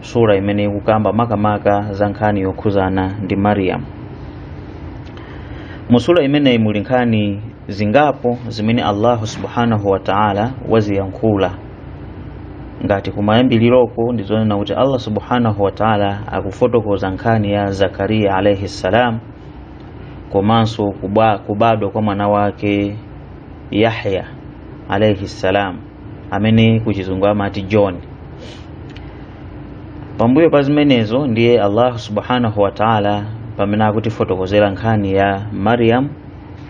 sura imeneyi ikukamba makamaka za nkhani yokhuzana ndi mariyamu mu sura imeneyi muli nkhani zingapo zimene allahu subhanahu wa taala waziyankhula ngati kumayambiliroko ndizonena kuti allah subhanahu wa taala akufotokoza nkhani ya zakariya alaihi ssalam komanso kuba- kubadwa kwa mwana wake yahya alaihi ssalam amene kuchizungu amati john pambuyo pa zimenezo ndiye allahu subhanahu wataala pamene akutifotokozera nkhani ya mariam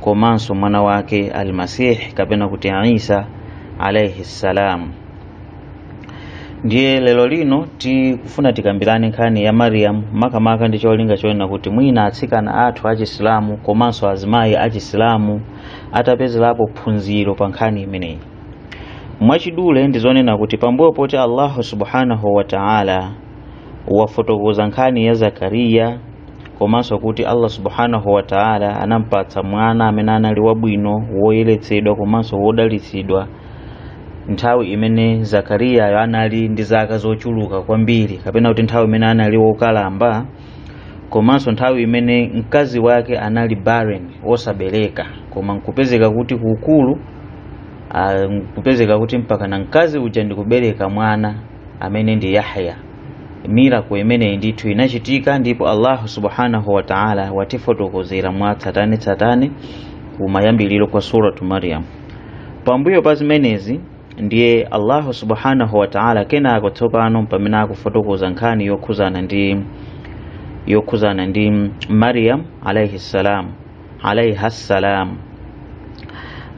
komanso mwana wake almasih kapena kuti isa alaihi ssalam ndiye lero lino tikufuna tikambirane nkhani ya mariam makamaka ndi cholinga chonena kuti mwina atsikana athu achisilamu komanso azimayi achisilamu atapezerapo phunziro pa nkhani imeneyi mwachidule ndi zonena kuti pambuyo poti allahu subhanahu wa ta'ala wafotokoza nkhani ya zakariya komanso kuti allah subhanahu wa ta'ala anampatsa mwana amene anali wabwino woyeretsedwa komanso wodalitsidwa nthawi imene zakariyayo anali ndi zaka zochuluka kwambiri kapena kuti nthawi imene anali wokalamba komanso nthawi imene mkazi wake anali barren wosabereka koma nkupezeka kuti kuukulu nkupezeka kuti mpaka na mkazi uja ndikubereka mwana amene ndi Yahya miracle imeneyi ndithu inachitika ndipo allahu subhanahu wa taala watifotokozera mwa tsatane tsatane kumayambiriro kwa suratu maryam pambuyo pa zimenezi ndiye allahu subhanahu wa taala kenako tsopano pamene akufotokoza nkhani yokhuzana ndi yokhuzana ndi maryam alaihi salam alaiha salam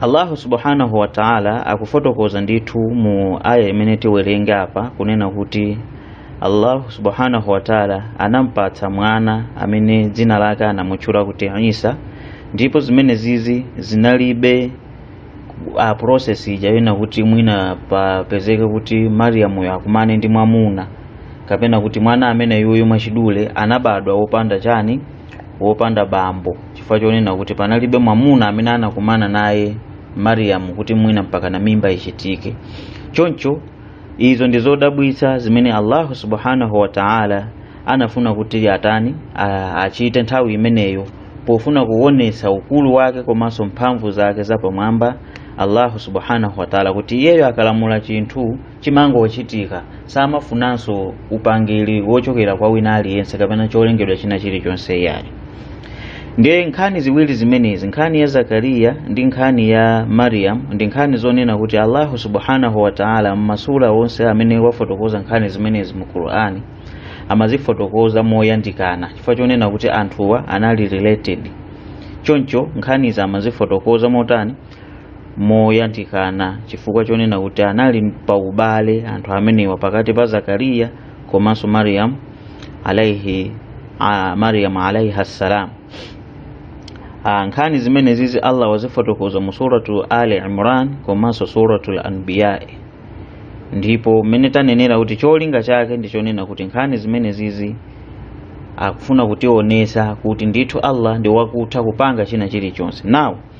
allahu subhanahu wa taala akufotokoza ndithu mu aya imene tiwerenge apa kunena kuti allahu subhanahu wa taala anampatsa mwana amene dzina lake anamutchula kuti isa ndipo zimenezizi zinalibe process ija yonena kuti mwina papezeke kuti mariyamuyo akumane ndi mwamuna kapena kuti mwana ameneyuyu mwachidule anabadwa wopanda chiyani wopanda bambo chifukwa chonena kuti panalibe mwamuna amene anakumana naye mariyamu kuti mwina mpaka na mimba ichitike choncho izo ndi zodabwitsa zimene allahu subhanahu wa taala anafuna kuti atani a- achite nthawi imeneyo pofuna kuonesa ukulu wake komanso mphamvu zake zapamwamba allahu subhanahu wa taala kuti iyeyo akalamula chinthu chimangochitika samafunanso upangiri wochokera kwa wina aliyense kapena cholengedwa china chilichonse iyayi ndiye nkhani ziwiri zimenezi nkhani ya zakariya ndi nkhani ya mariam ndi nkhani zonena kuti allahu subhanahu wa taala m'masura onse amene wafotokoza nkhani zimenezi mu qur'ani amazifotokoza moyandikana chifukwa chonena kuti anthuwa anali related choncho nkhanizi amazifotokoza motani moyandikana chifukwa chonena kuti anali pa ubale anthu amenewa pakati pa zakariya komanso mariyamu alaihi a- mariyamu alaihi ssalam Ah, nkhani zimenezizi allah wazifotokoza mu suratu ali imran komanso suratu lanbiyai ndipo mmene tanenera kuti cholinga chake ndi chonena kuti nkhani zimenezizi akufuna kutionesa kuti ndithu allah ndi wakutha kupanga china chilichonse nawo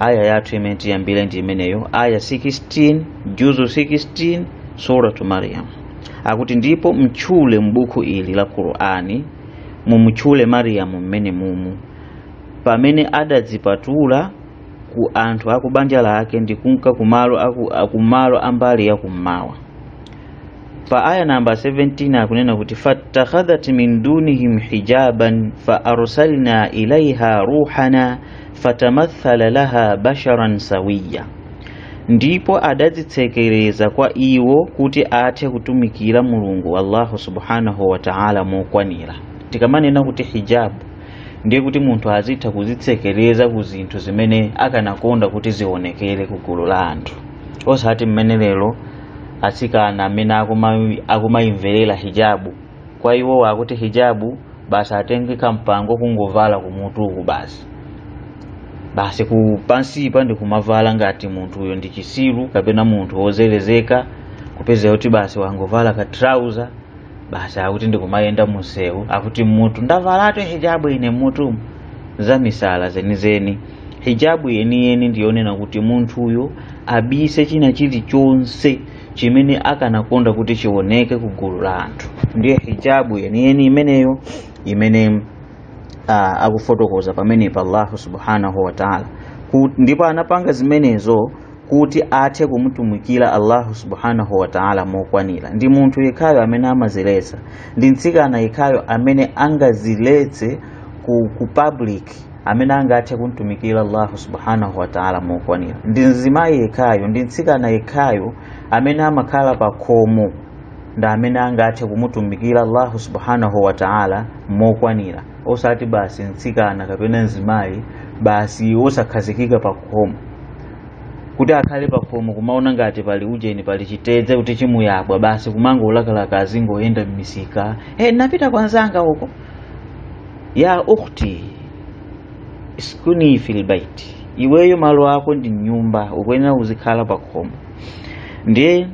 aya yathu imene tiyambire ndi imeneyo aya 16 juzu 16 suratu maryam akuti ndipo mtchule m'buku ili la qur'ani mumutchule mariyamu mmene mumu pamene adadzipatula ku anthu akubanja lake ndi kunka kumalo aku- akumalo ambali yakummawa pa aya namba 17 akunena kuti fattakhadhat min dunihim hijaban fa arsalna ilaiha ruhana fatamathala laha basharan sawiya ndipo adadzitsekereza kwa iwo kuti athe kutumikira mulungu allahu subhanahu wa ta'ala mokwanira tikamanena kuti hijabu ndiye kuti munthu azitha kuzitsekereza ku zinthu zimene akanakonda kuti zionekere ku gulu la anthu osati mmene lero atsikana amene akuma- akumayimverera hijabu kwa iwowo akuti hijabu basi atenge kampango kungovala kumutuku basi pansipa ndi kumavala ngati munthu uyo ndi chisiru kapena munthu wozelezeka kupeza kuti basi wangovala ka trouser basi akuti ndikumayenda munsewu akuti mutu ndavalatu hijabu ine mutu zamisala zenizeni hijabu yeniyeni ndiyonena kuti munthuyo abise china chilichonse chimene akanakonda kuti chioneke ku gulu la anthu ndiye hijabu yeniyeni imeneyo imene uh, akufotokoza pamenepa allahu subhanahu wataala ndipo anapanga zimenezo kuti athe kumutumikira allahu subhanahu wataala mokwanira ndi munthu yekhayo amene amaziletsa ndi mtsikana yekhayo amene angaziletse ku, ku public amene angathe kumtumikira allahu subhanahu wataala mokwanira ndi mzimayi yekhayo ndi mtsikana yekhayo amene amakhala pa khomo ndi amene angathe kumutumikira allahu subhanahu wataala mokwanira osati basi mtsikana kapena mzimayi basi osakhazikika pa khomo kuti akhale pa khomo kumaona ngati pali ujeni pali chitedze kuti chimuyabwa basi kumangolakalaka azingoyenda mmisika hey, napita kwa nzanga uko ya ukhti iskuni fil bait iweyo malo ako ndi mnyumba ukuyenera kuzikhala pa khomo ndiye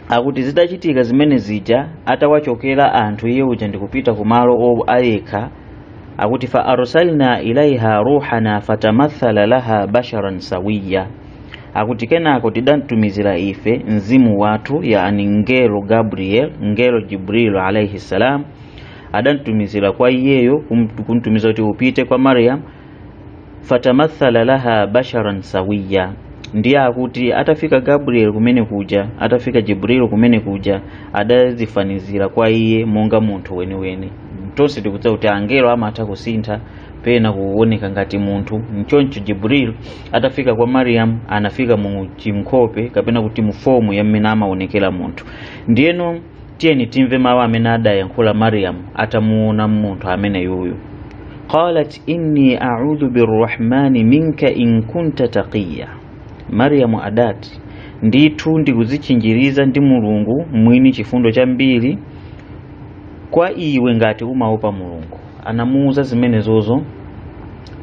akuti zitachitika zimene zija atawachokera anthu iye uja ndikupita ku malo o ayekha akuti fa arsalna ilaiha ruhana fatamathala laha basharan sawiya akuti kenako tidamtumizira ife mzimu wathu yani ngelo gabriel ngelo jibrilu alaihi salam adamtumizira kwa iyeyo kum- kumtumiza kuti upite kwa mariam fatamathala laha basharan sawiya ndiye akuti atafika gabriel kumene kuja atafika jibril kumene kuja adazifanizira kwa iye monga munthu weniweni tonse tikudziwa kuti angelo amatha kusintha pena kuoneka ngati munthu mchoncho jibril atafika kwa mariam anafika mu chimkhope kapena kuti mu fomu ya mmene amaonekera munthu ndiyeno tiyeni timve mawu amene adayankhula mariam atamuona munthu ameneyuyu qalat inni audhu birrahmani minka in kunta taqiya mariam adati ndithu ndikuzichinjiriza ndi mulungu mwini chifundo chambiri kwa iwe ngati umaopa mulungu anamuuza zimenezozo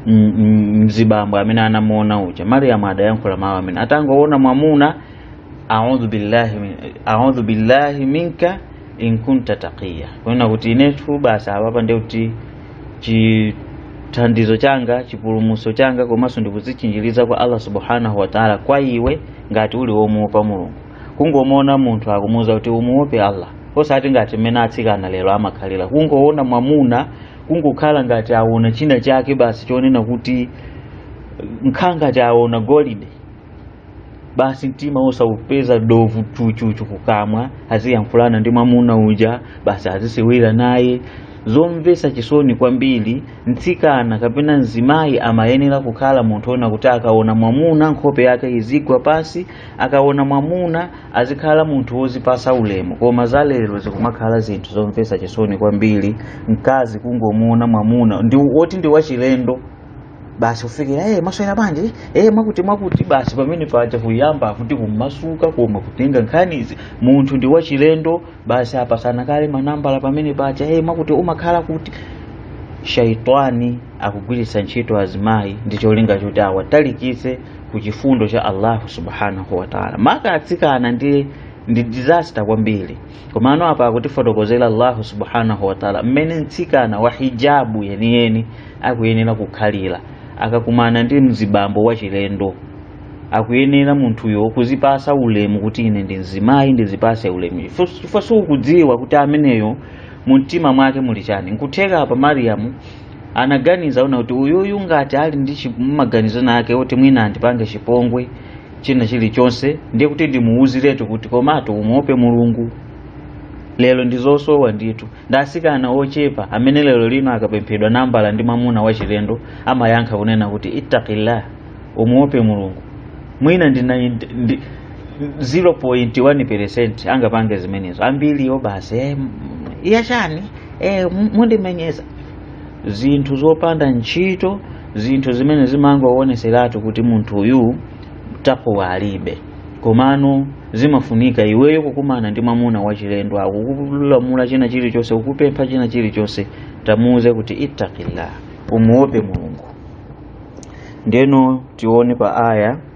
mzibambo amene anamuona uja mariam adayankhula mawu amene atangoona mwamuna a'udhu billahi min a'udhu billahi minka in kunta taqiya kunena kuti inetu basi apapa ndiye kuti chithandizo changa chipulumutso changa komanso ndikudzitchinjiriza kwa allah subhanahu wa taala kwa iwe ngati uli womuopa mulungu kungomuona munthu akumuuza kuti umuope allah osati ngati mmene atsikana lero amakhalira kungoona mwamuna kungokhala ngati aona china chake basi chonena kuti kukhala ngati aona golide basi mtima osaupeza dovu chuchuchu kukamwa aziyankhulana ndi mwamuna uja basi azisewera naye zomvetsa chisoni kwambiri mtsikana kapena mzimayi amayenera kukhala munthu ona kuti akaona mwamuna nkhope yake izigwa pasi akaona mwamuna azikhala munthu wozipasa ulemu koma za lero zikumakhala zinthu zomvetsa chisoni kwambiri mkazi kungomuona mwamuna ndi woti ndi wachilendo basi kufikira eh mwaswera bwanji eh mwakuti mwakuti basi pamene paja kuyamba kuti kumasuka koma kutenga nkhanizi munthu ndi wachilendo basi apasana kale manambala pamene paja eh mwakuti umakhala kuti shaitani akugwiritsa ntchito azimayi ndi cholinga choti awatalikise ku chifundo cha allahu subhanahu wataala maka atsikana ndi ndi disaster kwambiri komano apa akutifotokozera allahu subhanahu wataala mmene mtsikana wa hijabu yeniyeni akuyenera kukhalira akakumana ndi mzibambo wachilendo akuyenera munthuyo kuzipasa ulemu kuti ine ndi mzimayi ndizipase ulemu chifukwa siukudziwa kuti ameneyo mu mtima mwake muli chani nkutheka apa mariyamu anaganiza kuti uyuyu ngati ali ndi maganizo nake oti mwina andipange chipongwe china chilichonse ndiye kuti ndimuwuziretu kuti komatu umuope mulungu lero ndizosowa ndithu ndi asikana ochepa amene lero lino akapemphedwa nambala ndi mwamuna wachilendo amayankha kunena kuti ittaqillah umuope mulungu mwina ndi ndi- 0.1 percent angapange zimenezo ambiriwo basi eh, m- iya chani eh, m- mundimenyeza zinthu zopanda ntchito zinthu zimene zimangowoneseratu kuti munthu uyu takuwa alibe komano zimafunika iweyo kukumana ndi mwamuna wachilendo akukulamula china chilichonse kukupempha china chilichonse tamuuze kuti ittaqillah umuope mulungu ndiyeno tione pa aya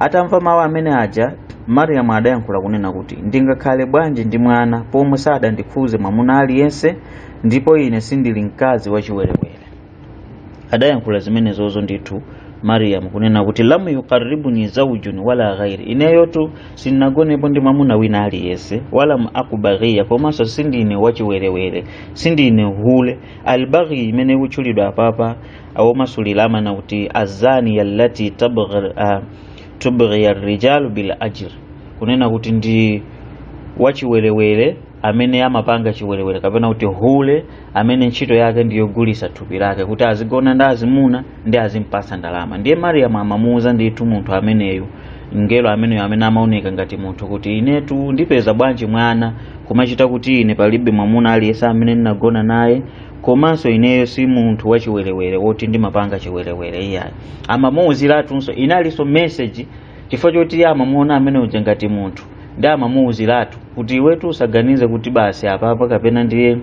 atamva mawu amene aja mariyamu adayankhula kunena kuti ndingakhale bwanji ndi mwana pomwe sadandikhuze mwamuna aliyense ndipo ine sindili mkazi wachiwerewere adayankhula zimenezozo ndithu mariyamu kunena kuti lam yuqarribuni zaujun wala ghairi ineyotu sindinagonepo ndi mwamuna wina aliyense walam aku baghiya komanso sindine wachiwerewere sindine hule albaghi imene ikutchulidwa apapa awomasulira amanena kuti azaniya allati tubghiya rijalu bil ajr kunena kuti ndi wachiwerewere amene amapanga chiwerewere kapena kuti hule amene ntchito yake ndiyogulisa thupi lake kuti azigona ndi azimuna nkuzimpasa ndalama ndiye mariyamu amamuuza ndithu munthu ameneyu mngelo ameneyo amene amaoneka ngati munthu kuti inetu ndipeza bwanji mwana kumachita kuti ine palibe mwamuna aliyense amene ndinagona naye komanso ineyo si munthu wachiwerewere woti ndimapanga chiwerewere iyayi amamuwuziratunso inalinso meseji chifukwa choti iye amamuona amene uja ngati munthu ndiye amamuwuziratu kuti iwetu usaganize kuti basi apapa kapena ndiye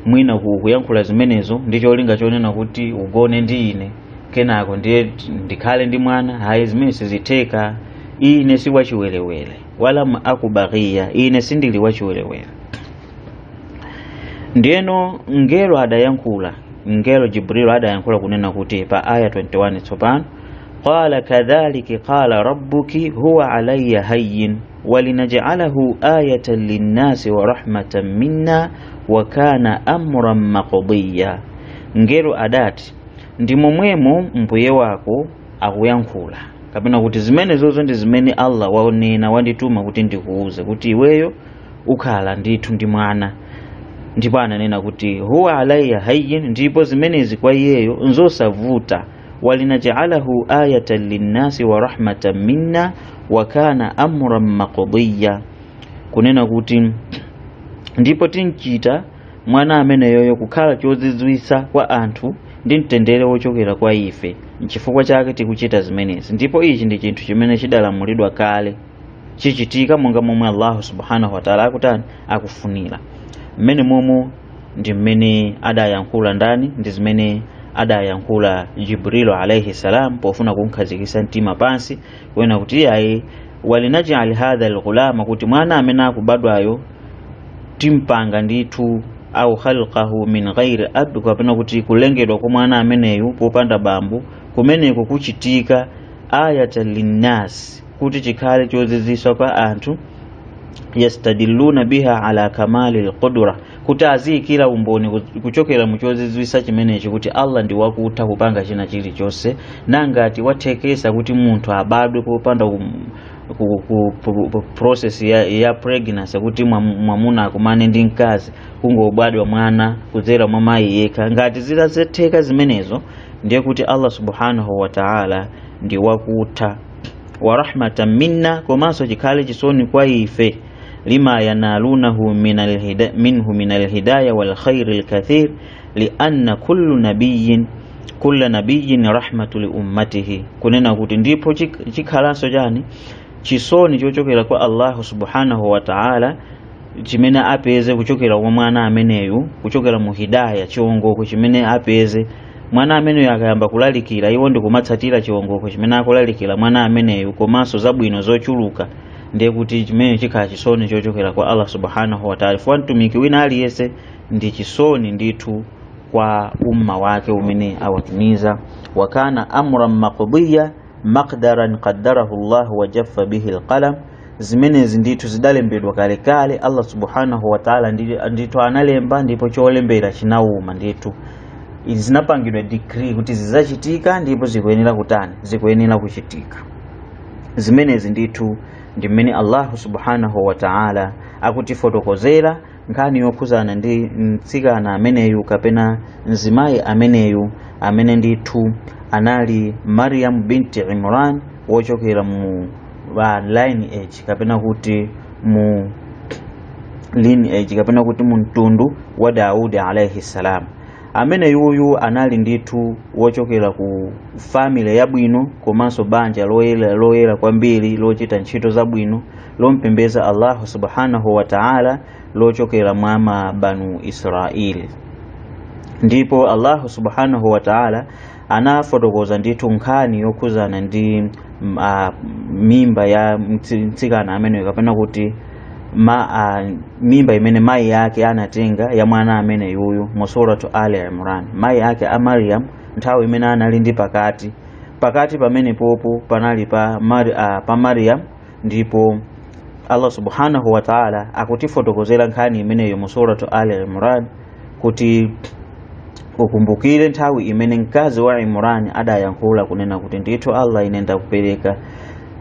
mwina ku- kuyankhula zimenezo ndi cholinga chonena kuti ugone ndi ine kenako ndiye t- ndikhale ndi mwana ayi zimenezo sizitheka ine si wachiwerewere walam aku baghiya ine sindili wachiwerewere ndiyeno mngelo adayankhula mngelo jibrilu adayankhula kunena kuti pa aya 21 tsopano qala kadhaliki qala rabbuki huwa alayya hayyin walinajaalahu ayatan linnasi wa rahmatan minna wa kana amran maqdiya mngelo adati ndi momwemo mbuye wako akuyankhula kapena kuti zimenezozo ndi zimene allah wanena wandituma kuti ndikuuze kuti iweyo ukhala ndithu ndi mwana ndipo ananena kuti huwa alayya hayyin ndipo zimenezi kwa iyeyo nzosavuta walinajaalahu ayatan linnasi wa rahmatan minna wa kana amran maqdiya kunena kuti ndipo timchita mwana ameneyoyo kukhala chozizwisa kwa anthu ndi mtendere wochokera kwa ife nchifukwa chake tikuchita zimenezi ndipo ichi ndi chinthu chimene chidalamulidwa kale chichitika monga momwe allahu subhanahu wataala akutani akufunira mmenemomo ndi mmene adayankhula ndani ndi zimene adayankhula jibrilu alaihi salam pofuna kumkhazikisa mtima pansi kunena kuti iyayi walinajali hadha lghulama kuti mwana amene akubadwayo timpanga ndithu au khalqahu min ghairi ab kapena kuti kulengedwa kwa mwana ameneyu popanda bambo kumeneko kuchitika ayatan linnas kuti chikhale chozizwisa kwa anthu yastadilluna biha ala kamali lqudra kuti aziyikira umboni ku- kuchokera mu chozizwisa chimenechi kuti allah ndi wakutha kupanga china chilichonse nangati wathekesa kuti munthu abadwe popanda kum- ku- ku- ku- ku- process ya, ya pregnancy kuti mwam- mwamuna akumane ndi mkazi kungobadwa mwana kudzera mwa mayi yekha ngati zitatheka zimenezo ndiye kuti allah subhanahu wa taala ndi wakutha wa rahmatan minna komanso chikhale chisoni kwa ife lima yanalunahu minhu min alhidaya walkhairi lkathir lianna kullu nabiyin kulla nabiyin rahmatu liummatihi kunena kuti ndipo chikhalanso chani chisoni chochokera kwa allahu subhanahu wa taala chimene apeze kuchokera kwa mwana ameneyu kuchokera mu hidaya chiongoko chimene apeze mwana ameneyo akayamba kulalikira iwo ndikumatsatira chiwongoko chimene akulalikira mwana ameneyo komanso zabwino zochuluka ndiye kuti chimenecho chikhala chisoni chochokera kwa allah subhanahu wataala fukwa mtumiki wina aliyense ndi chisoni ndithu kwa umma wake umene awatumiza wakana amran maqdiya maqdaran qaddarahu llah wajaffa bihi lqalam zimenezi ndithu zidalembedwa kalekale allah subhanahu wataala ndithu analemba ndipo cholembera chinawuma ndithu izi zinapangidwa decree kuti zizachitika ndipo zikuyenera kutani zikuyenera kuchitika zimenezi ndithu ndi mmene allahu subhanahu wataala akutifotokozera nkhani yokhuzana ndi mtsikana ameneyu kapena mzimayi ameneyu amene ndithu anali mariam binti imran wochokera mu lineage kapena kuti mu lineage kapena kuti mu mtundu wa daudi alaihi salam amene yuyu anali ndithu wochokera ku family yabwino komanso banja loyera loyera kwambiri lochita ntchito zabwino lompembeza allahu subhanahu wa ta'ala lochokera mwa mabanu israeli ndipo allahu subhanahu wa ta'ala anafotokoza ndithu nkhani yokhuzana ndi mm, ah, mimba ya mtsi- mtsikana ameneyo kapena kuti ma, ah, mimba imene mayi ake anatenga ya mwana ameneyuyu mu suratu ali imran mayi ake a mariam nthawi imene anali ndi pakati pakati pamenepopo panali pa, Mari, ah, pa mariam ndipo Allah subhanahu wa ta'ala akutifotokozera nkhani imeneyo mu suratu Ali Imran kuti ukumbukire nthawi imene mkazi wa Imran adayankhula kunena kuti ndithu Allah ine ndikupereka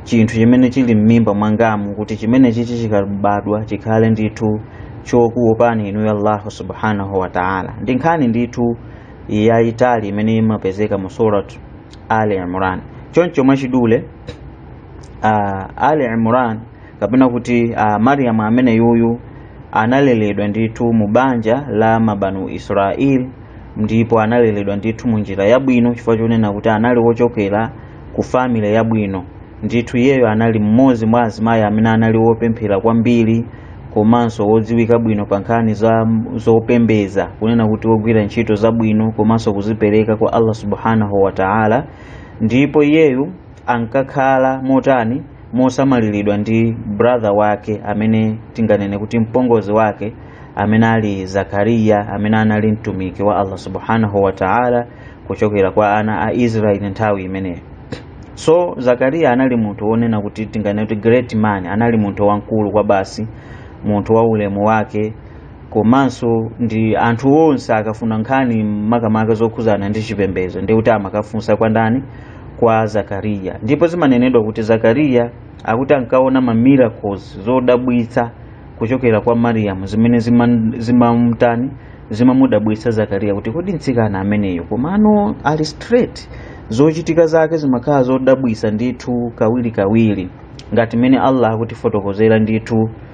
chinthu chimene chili m'mimba mwangamu kuti chimene chichi chikabadwa chikhale ndithu chokuopani inuyo Allahu subhanahu wa ta'ala ndi nkhani ndithu yayitali imene imapezeka mu suratu Ali Imran choncho mwachidule uh, ali imran kapena kuti uh, mariyamu ameneyuyu analeledwa ndithu mu banja la mabanu israeli ndipo analeledwa ndithu mu njira yabwino chifukwa chonena kuti anali wochokera ku family yabwino ndithu iyeyo anali mmodzi mwa azimayi amene anali wopemphera kwambiri komanso wodziwika bwino pa nkhani za zopembeza kunena kuti wogwira ntchito zabwino komanso kuzipereka kwa allah subhanahu wa taala ndipo iyeyu ankakhala motani mosamaliridwa ndi brother wake amene tinganene kuti mpongozi wake amene ali zakariya amene anali mtumiki wa allah subhanahu wa ta'ala kuchokera kwa ana a israeli nthawi imeneyo so zakariya anali munthu wonena kuti tinganene kuti great man anali munthu wamkulu kwabasi munthu wa ulemu wake komanso ndi anthu onse akafuna nkhani makamaka zokhuzana ndi chipembedzo ndi kuti amakafunsa kwa ndani kwa zakariya ndipo zimanenedwa kuti zakariya akuti ankaona ma miracles zodabwitsa kuchokera kwa mariyamu zimene zima- zimamtani zimamudabwitsa zakariya kuti kodi mtsikana ameneyo komano ali straight zochitika zake zimakhala zodabwitsa ndithu kawirikawiri ngati mmene allah akutifotokozera ndithu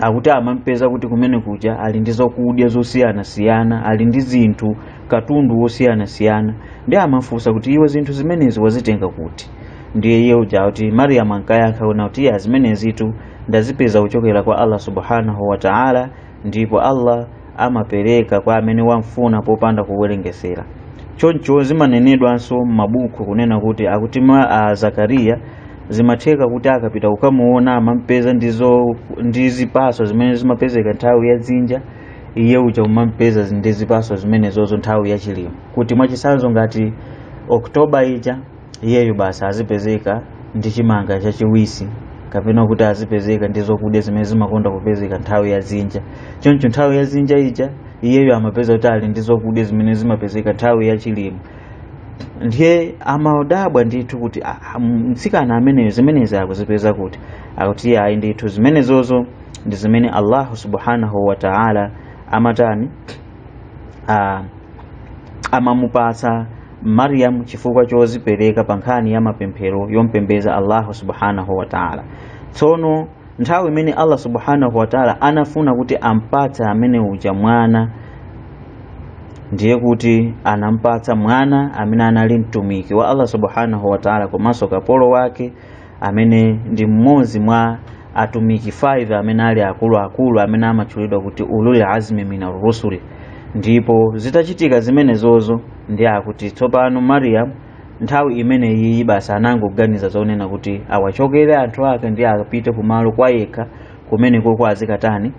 akuti amampeza kuti kumene kuja ali ndi zokudya zosiyanasiyana ali ndi zinthu katundu wosiyanasiyana ndiye amafunsa kuti iwe zinthu zimenezi wazitenga kuti ndiye iye uja akuti mariyamu ankayankha kunena kuti iyayi zimenezitu ndazipeza kuchokera kwa allah subhanahu wa taala ndipo allah amapereka kwa amene wamfuna popanda kuwerengesera choncho zimanenedwanso m'mabuku kunena kuti akuti ma a zakariya zimatheka kuti akapita kukamuona amampeza ndizo ndi zipatso zimene zimapezeka nthawi ya dzinja iye uja amampeza ndi zipatso zimenezozo nthawi ya chilimwe kuti mwachitsanzo ngati oktoba ija iyeyo basi azipezeka ndi chimanga chachiwisi kapena kuti azipezeka ndi zokudya zimene zimakonda kupezeka nthawi ya dzinja choncho nthawi ya dzinja ija iyeyo amapeza kuti ali ndi zokudya zimene zimapezeka nthawi ya chilimwe ndiye amadabwa ndithu kuti "Ah, ah, mtsikana ameneyu zimenezi akuzipeza kuti akuti ayi ndithu zimenezozo ndi zimene allahu subhanahu wa taala amatani ah, amamupatsa Maryam chifukwa chozipereka pa nkhani ya mapemphero yompembeza Allah subhanahu wa ta'ala tsono nthawi imene Allah subhanahu wa ta'ala anafuna kuti ampatse amene uja mwana ndiye kuti anampatsa mwana amene anali mtumiki wa Allah subhanahu wa ta'ala komanso kapolo wake amene ndi mmodzi mwa atumiki 5 amene ali akuluakulu amene amatchulidwa kuti ulul azmi min arrusuli ndipo zitachitika zimenezozo ndiye akuti tsopano mariyamu nthawi imeneyiyi basi anangoganiza zonena kuti awachokere anthu ake ndiye apite kumalo kwa yekha kumenekoko azikatani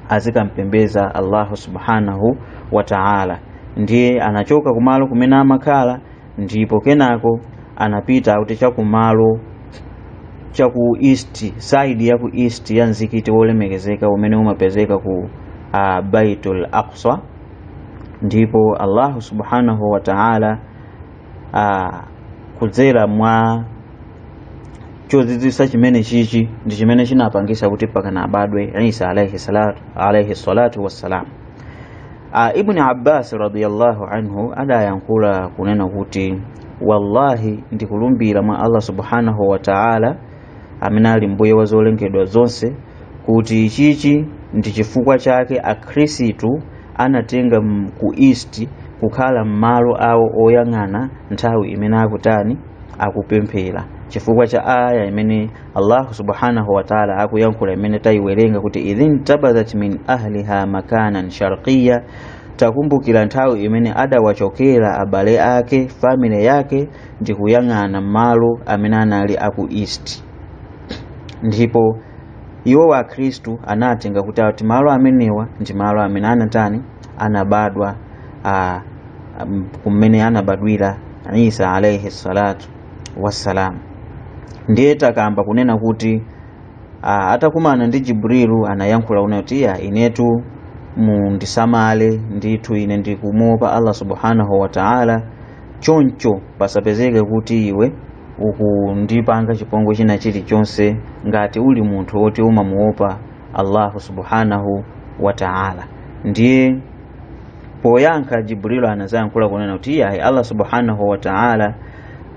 azikampembeza allahu subhanahu wa taala ndiye anachoka kumalo kumene amakhala ndipo kenako anapita akuti chakumalo cha ku east side ya ku east ya mzikiti wolemekezeka umene umapezeka ku uh, baitul aqsa ndipo allahu subhanahu wa taala uh, kudzera mwa chozizwitsa chimenechichi ndi chimene chinapangitsa kuti mpakana abadwe isa alaihi salatu, alaihi salatu wassalam Ah, Ibn Abbas radiyallahu anhu adayankhula kunena kuti wallahi ndikulumbira mwa Allah subhanahu wa ta'ala amene ali mbuye wa zolengedwa zonse kuti ichichi ndi chifukwa chake akhristu anatenga m- ku east kukhala malo awo oyang'ana nthawi imene akutani akupemphera chifukwa cha aya imene allahu subhanahu wataala akuyankhula imene tayiwerenga kuti idhintabadhat min ahliha makanan sharqiya takumbukira nthawi imene adawachokera abale ake family yake ndi kuyang'ana malo amene anali aku east ndipo iwo Akhristu anatenga kuti ati malo amenewa ndi malo amene anatani anabadwa ah, um, kumene anabadwira isa alaihi salatu wassalam ndiye takamba kunena kuti ah, atakumana ndi jibrilu anayankhula kunena kuti ya inetu mundisamale ndithu ine ndikumuopa allah subhanahu wa taala choncho pasapezeke kuti iwe ukundipanga chipongwe china chilichonse ngati uli munthu woti umamuopa allahu subhanahu wa taala ndiye poyankha jibril anazayankhula kunena kuti iyayi allah subhanahu wa ta'ala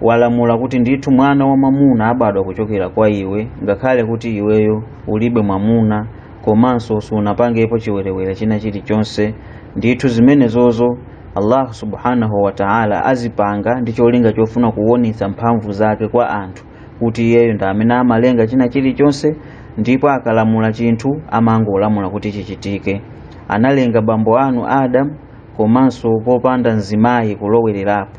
walamula kuti ndithu mwana wa mwamuna abadwa kuchokera kwa iwe ngakhale kuti iweyo ulibe mwamuna komanso siunapangepo chiwerewere china chilichonse ndithu zimenezozo allah subhanahu wa ta'ala azipanga ndi cholinga chofuna kuwonetsa mphamvu zake kwa anthu kuti iyeyo ndi amene amalenga china chilichonse ndipo akalamula chinthu amangolamula kuti chichitike analenga bambo anu adamu komanso popanda mzimayi kulowererapo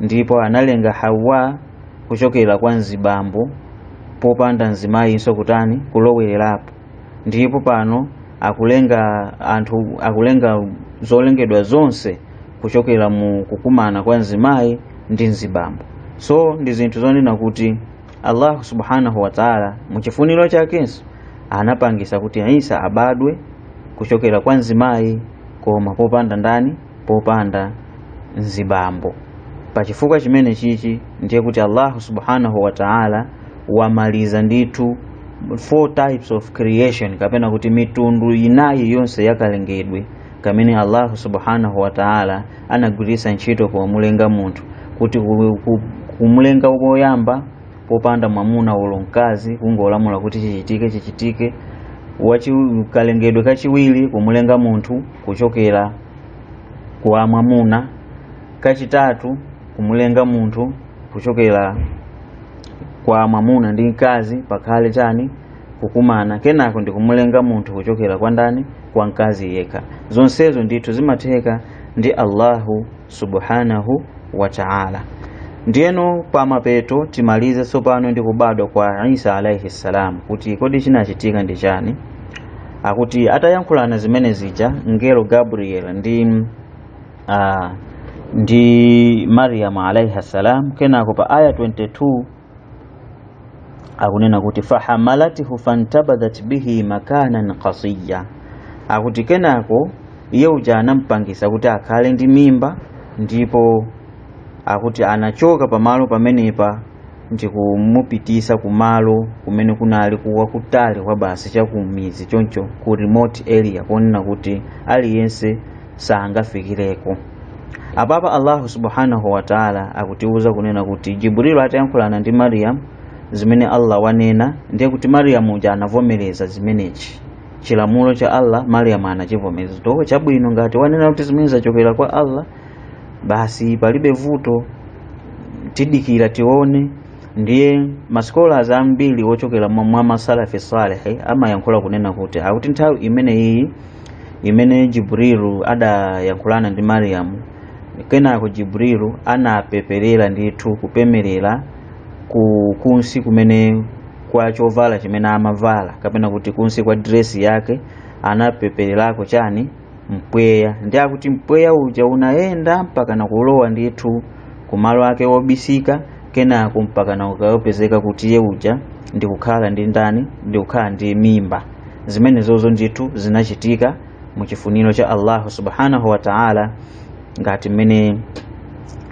ndipo analenga hawa kuchokera kwa mzibambo popanda mzimayinso kutani kulowererapo ndipo pano akulenga anthu akulenga zolengedwa zonse kuchokera mu kukumana kwa mzimayi ndi mzibambo so ndi zinthu zonena kuti allahu subhanahu wataala muchifuniro chakenso anapangisa kuti isa abadwe kuchokera kwa mzimayi koma popanda ndani popanda mzibambo pachifukwa chimenechichi ndiye kuti allahu subhanahu wataala wamaliza ndithu four types of creation kapena kuti mitundu inayi yonse yakalengedwe kamene allahu subhanahu wataala anagwiritsa ntchito pomulenga munthu kuti ku- ku- kumulenga woyamba popanda mwamuna olo mkazi kungolamula kuti chichitike chichitike wachi kalengedwe kachiwiri kumulenga munthu kuchokera kwa mwamuna kachitatu kumulenga munthu kuchokera kwa mwamuna ndi mkazi pakhale chani kukumana kenako ndikumulenga munthu kuchokera kwa ndani kwa mkazi yekha zonsezo ndithu zimatheka ndi allahu subhanahu wa taala ndiyeno pa mapeto timalize tsopano ndi kubadwa kwa isa alaihi ssalam kuti kodi chinachitika ndi chani akuti atayankhulana zimene zija mngelo gabriel ndi uh, ndi mariam alaihi ssalam kenako pa aya 22 akunena kuti fahamalatihu fantabadhat bihi makanan qasiya akuti kenako iye uja anampangisa kuti akhale ndi mimba ndipo akuti anachoka pamalo pamenepa ndi kumupitisa kumalo kumene kunali kwakutali kwa basi chakumidzi choncho ku remote area kunena kuti aliyense sangafikireko apapa allahu subhanahu wataala akutiwuza kunena kuti jibrilu atayankhulana ndi mariyamu zimene allah wanena ndiye kuti mariyamu uja anavomereza chimenechi chilamulo cha allah mariyamu anachivomereza to chabwino ngati wanena kuti zimenezi zachokera kwa allah basi palibe vuto tidikira tione ndiye masikolazi ambiri ochokera mwa masalafi salehi amayankhula kunena kuti akuti nthawi imeneyiyi imene jibrilu adayankhulana ndi mariyamu kenako jibrilu anapeperera ndithu kupeperera ku kunsi kumene kwa chovala chimene amavala kapena kuti kunsi kwa diresi yake anapepererako chani mpweya ndiye akuti mpweya uja unayenda mpaka nakulowa ndithu kumalo ake obisika kenako mpaka nakukapezeka kuti iye uja ndikukhala ndi ndani ndikukhala ndi mimba zimenezozo ndithu zinachitika mu chifuniro cha allahu subhanahu wa taala ngati mmene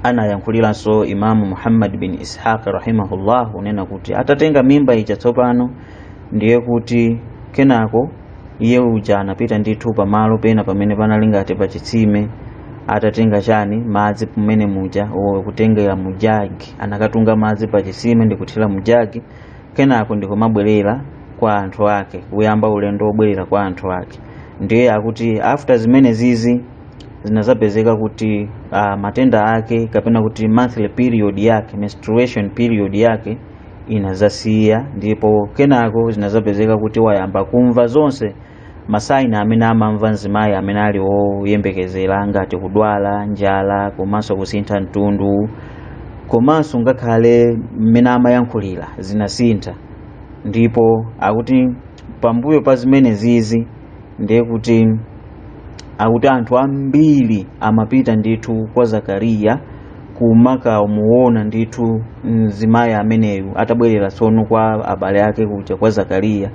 anayankhuliranso imamu muhammad bin ishaq rahimahullah kunena kuti atatenga mimba ija tsopano ndiye kuti kenako iye uja anapita ndithu pamalo pena pamene panali ngati pa chitsime atatenga chani madzi mmene muja kutengera mujagi anakatunga madzi pa chitsime ndi kuthira mujagi kenako ndikumabwerera kwa anthu ake kuyamba ulendo wobwerera kwa anthu ake ndiye akuti after zimene zizi zinazapezeka kuti uh, matenda ake kapena kuti monthly period yake menstruation period yake inazasiya ndipo kenako zinazapezeka kuti wayamba kumva zonse masaini amene amamva mzimayi amene ali woyembekezera ngati kudwala njala komanso kusintha mtundu komanso ngakhale mmene amayankhulira zinasintha ndipo akuti pambuyo pa zimene zizi ndiye kuti akuti anthu ambiri amapita ndithu kwa zakariya kumakamuona ndithu mzimayi ameneyu atabwerera tsono kwa abale ake kuja kwa zakariya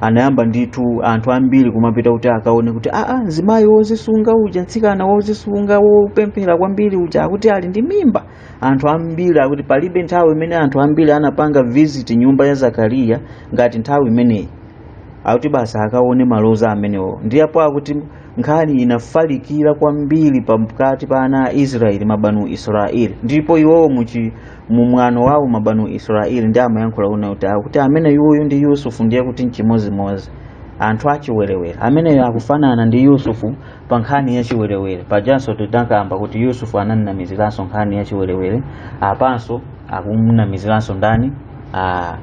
anayamba ndithu anthu ambiri kumapita kuti akaone kuti aa ah, ah, mzimayi wozisunga uja mtsikana wozisunga wopemphera kwambiri uja akuti ali ndi mimba anthu ambiri akuti palibe nthawi imene anthu ambiri anapanga visit nyumba ya zakariya ngati nthawi imeneyi akuti basi akaone maloza amenewo ndiye apo akuti nkhani inafalikira kwambiri pakati pa ana a israeli mabanu israeli ndipo iwowo muchi mu mwano wawo mabanu israeli ndi amayankhula kunena kuti akuti ameneyuyu ndi yusufu ndiye kuti mchimozimozi anthu achiwerewere ameneyo akufanana ndi yusufu pa nkhani ya chiwerewere pajanso tidakamba kuti yusufu anamnamiziranso nkhani ya chiwerewere apanso akumnamiziranso ndani ah,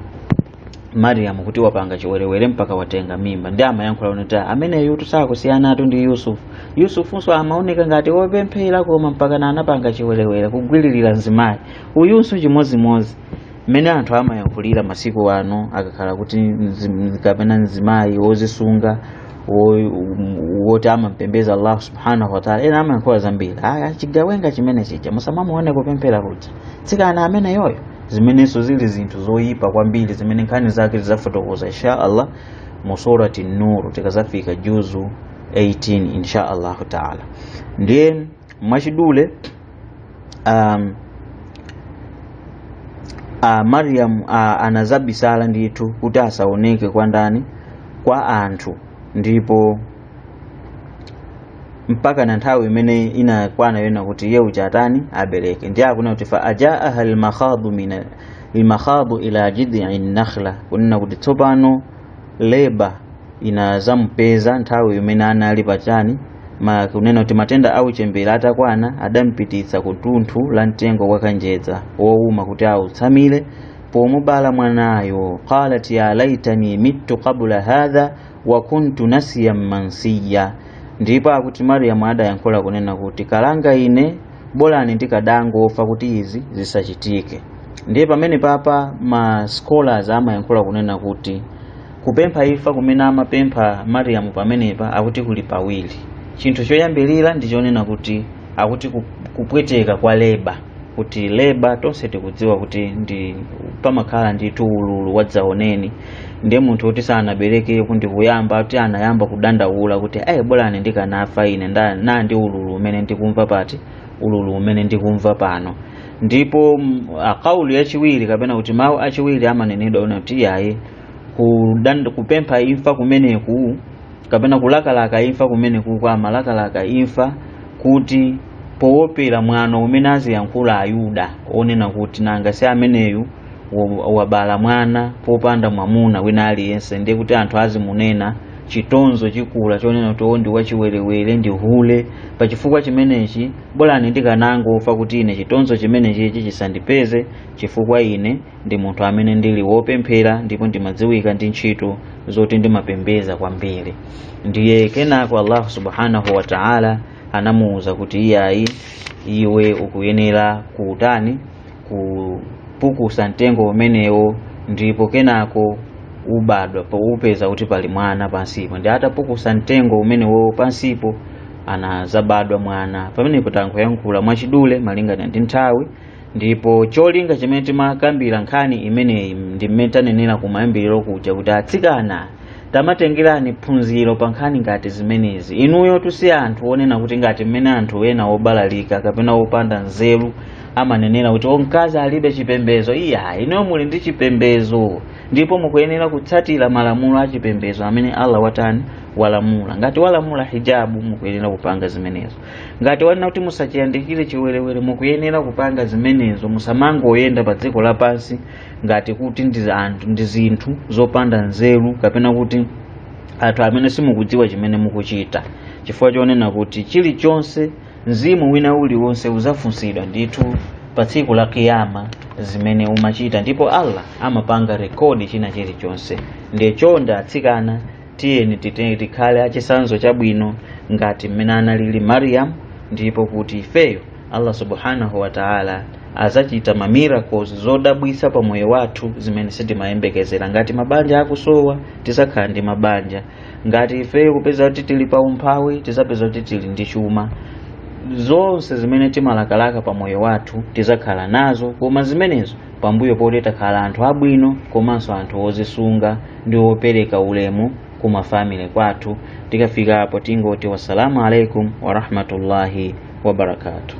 mariyamu kuti wapanga chiwerewere mpaka watenga mimba ndi amayankhula kunena kuti ameneyutu sakusiyanatu ndi yusufu yusufunso amaoneka ngati wopemphera koma mpaka na anapanga chiwerewere kugwiririra mzimayi uyunso chimodzimodzi mmene anthu amayankhulira masiku ano akakhala kuti mzi- kapena mzimayi wozisunga wo- woti amampembeza allahu subhanahu wataala ena amayankhula zambiri aya chigawenga chimene chija musamamuone kupemphera kuja tsikana ameneyoyo zimenenso zili zinthu zoyipa kwambiri zimene nkhani zake tidzafotokoza insha allah mu surati nur tikazafika juzu 18 insha allahu taala ndiye mwachidule um, uh, mariam uh, anazabisala ndithu kuti asaoneke kwa ndani kwa anthu ndipo mpaka na nthawi imene inakwana yonena kuti iye uja atani abereke ndiye akunena kuti fa ajaaha lmakhadu mina lmakhadu ila jidii nakhla kunena kuti tsopano leba inazamupeza nthawi imene anali pa chani ma kunena kuti matenda a uchembere atakwana adampititsa ku tunthu la mtengo wa kanjedza wowuma kuti autsamire pomubala mwanayo qalat ya laitani mittu qabla hadha wa kuntu nasiyan mansiya ndipo akuti mariyamu adayankhula kunena kuti kalanga ine bolani ndikadangofa kuti izi zisachitike ndiye pamenepapa ma scholars amayankhula kunena kuti kupempha imfa kumene amapempha mariyamu pamenepa akuti kuli pawiri chinthu choyambirira ndi chonena kuti akuti ku- kupweteka kwa leba kuti leba tonse tikudziwa kuti ndi pamakhala ndithu ululu wadzaoneni ndiye munthu woti sanaberekeko ndi kuyamba kuti anayamba kudandaula kuti ayi bolani ndikanafa ine nda- na ndi ululu umene ndikumva pati ululu umene ndikumva pano ndipo mm, a kaulu yachiwiri kapena kuti mawu achiwiri amanenedwa kunena kuti iyayi kudanda- kupempha imfa kumeneku kapena kulakalaka imfa kumenekuko amalakalaka imfa kuti powopera mwano umene aziyankhula ayuda onena kuti nanga si ameneyu wa- wabala mwana popanda mwamuna wina aliyense ndiye kuti anthu azimunena chitonzo chikula chonena kuti "Oh, ndi wachiwerewere ndi hule pa chifukwa chimenechi bolani ndikanangofa kuti ine chitonzo chimenechichi chisandipeze chifukwa ine ndi munthu amene ndili wopemphera ndipo ndimadziwika ndi ntchito zoti ndimapembeza kwambiri ndiye kenako allahu subhanahu wa taala anamuwuza kuti iyayi iwe ukuyenera kuutani kupukusa mtengo umenewo ndipo kenako ubadwa upeza kuti pali mwana pansipo ndiye atapukusa mtengo umenewo pansipo anazabadwa mwana pamenepo tangoyankhula mwachidule malingana ndi nthawi ndipo cholinga chimene timakambira nkhani imeneyi ndi mmene tanenera kumayambiriro kuja kuti atsikana tamatengerani phunziro pa nkhani ngati zimenezi inuyo tusiya anthu onena kuti ngati mmene anthu ena obalalika kapena opanda nzeru amanenera kuti o mkazi alibe chipembezo iya inuyo muli ndi chipembezo ndipo mukuyenera kutsatira malamulo a chipembezo amene allah watani walamula ngati walamula hijabu mukuyenera kupanga zimenezo ngati wanena kuti musachiyandikire chiwerewere mukuyenera kupanga zimenezo musamangoyenda pa dziko lapansi ngati kuti ndi anthu ndi zinthu zopanda nzeru kapena kuti anthu amene simukudziwa chimene mukuchita chifukwa chonena kuti chilichonse mzimu wina uliwonse uzafunsidwa ndithu pa tsiku la kiyama zimene umachita ndipo allah amapanga rekodi china chilichonse ndiye chonde atsikana tiyeni titenge tikhale achisanzo chabwino ngati mmene analili mariam ndipo kuti ifeyo allah subhanahu wataala azachita ma miracles zodabwisa pa moyo wathu zimene sitimayembekezera ngati mabanja akusowa tizakhala ndi mabanja ngati ifeyo kupeza kuti tili pa umphawi tizapeza kuti tili ndi chuma zonse zimene timalakalaka pa moyo wathu tizakhala nazo koma zimenezo pambuyo poti takhala anthu abwino komanso anthu ozisunga ndi opereka ulemu ku mafamily kwathu tikafika apo tingoti wassalamu alaikum warahmatullahi wabarakatuh